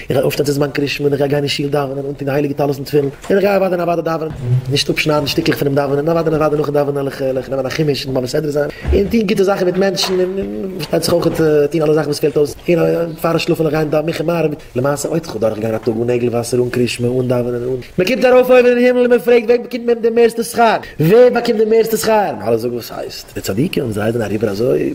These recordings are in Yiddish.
איך גיי אויפשטיין צו זמן קרישמע און איך גיי גיין אין שול דאווענען, אנטוהן די הייליגע טלית און תפילין, און איך גיי אוודאי און אוודאי דאווענען, נישט אפשניידן שטיקלעך פונעם דאווענען, און אוודאי און אוודאי נאכן דאווענען העל איך נעמען א חומש און בבא סדרא זיין, און טוהן גוטע זאכן מיט מענטשן, און פארשטייט זיך אויכעט טוהן אלע זאכן וואס פעלט אויס, און פארן שלאפן זאל איך גיין דאווענען מנחה מעריב, למעשה אויב איך וועל דורך גיין א טאג אן נעגל וואסער, אן קרישמע, אן דאווענען, אן. מען קומט ארויף אויבן אין הימל און מען פרעגט וועם קומט מען די מערסטע שכר? ווער באקומט די מערסטע שכר? און אלע זאגן וואס הייסט? די צדיקים זיי זענען אריבער אזוי.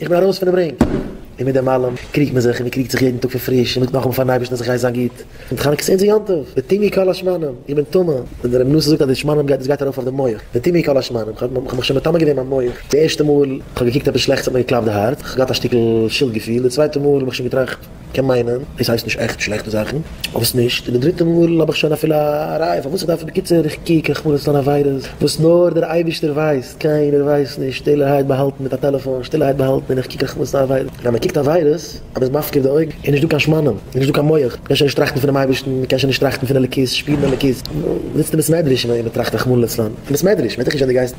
איך בין ארויס פונעם רינג, און מיט דעם אלעם קריגט מען זיך, און מען קריגט זיך יעדן טאג פון פריש, און מען זאגט נאכאמאל פארן אייבערשטן אז איך הייס זיין גוט, און חנוכה איז אונזער יום טוב, וטימי כל השמנים, איך בין טמא, ווען דער אמונה זאגט אז די שמנים גייט, דאס גייט ארויף אויף די מח, וטימי כל השמנים, איך האב מיך שוין מטמא געווען מיין מח, די ערשטע מאל איך האב געקוקט עפעס שלעכטס האט מיר געקלאפט די הארץ, איך האב געהאט א שטיקל שולד געפיל, די צווייטע מאל האב איך שוין געטראכט. קען מיינען עס הייסט נישט עכט שלעכטע זאכן, וואס נישט אין די דריטע מאל האב איך שוין אפילו א ראיה פארוואס איך דארף עס בקיצור איך קוק איך מוז עס טון עבירות וואס נאר דער אייבישטער ווייסט קיינער ווייסט נישט שטילערהייט באהאלטן מיט א טעלעפאן שטילערהייט באהאלטן און איך קוק איך מוז טון עבירות ווען מען קוקט עבירות אז מען איז מפקיר די אויגן איז נישט דא קיין שמנים איז נישט דא קיין מח מען קען שוין נישט טראכטן פונעם אייבישטן מען קען שוין נישט טראכטן פון אלוקית שפירן אלוקית זיצט אין בית מדרש און מען טראכט רחמנא לצלן אין בית מדרש מען וועט דיך נישט ווען די גייסט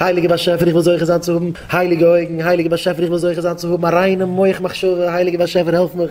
הייליגער באשעפער איך וויל זוכה זיין צו האבן הייליגע אויגן, הייליגער באשעפער איך וויל זוכה זיין צו האבן א ריינע מח מחשבה, הייליגער באשעפער העלף מיך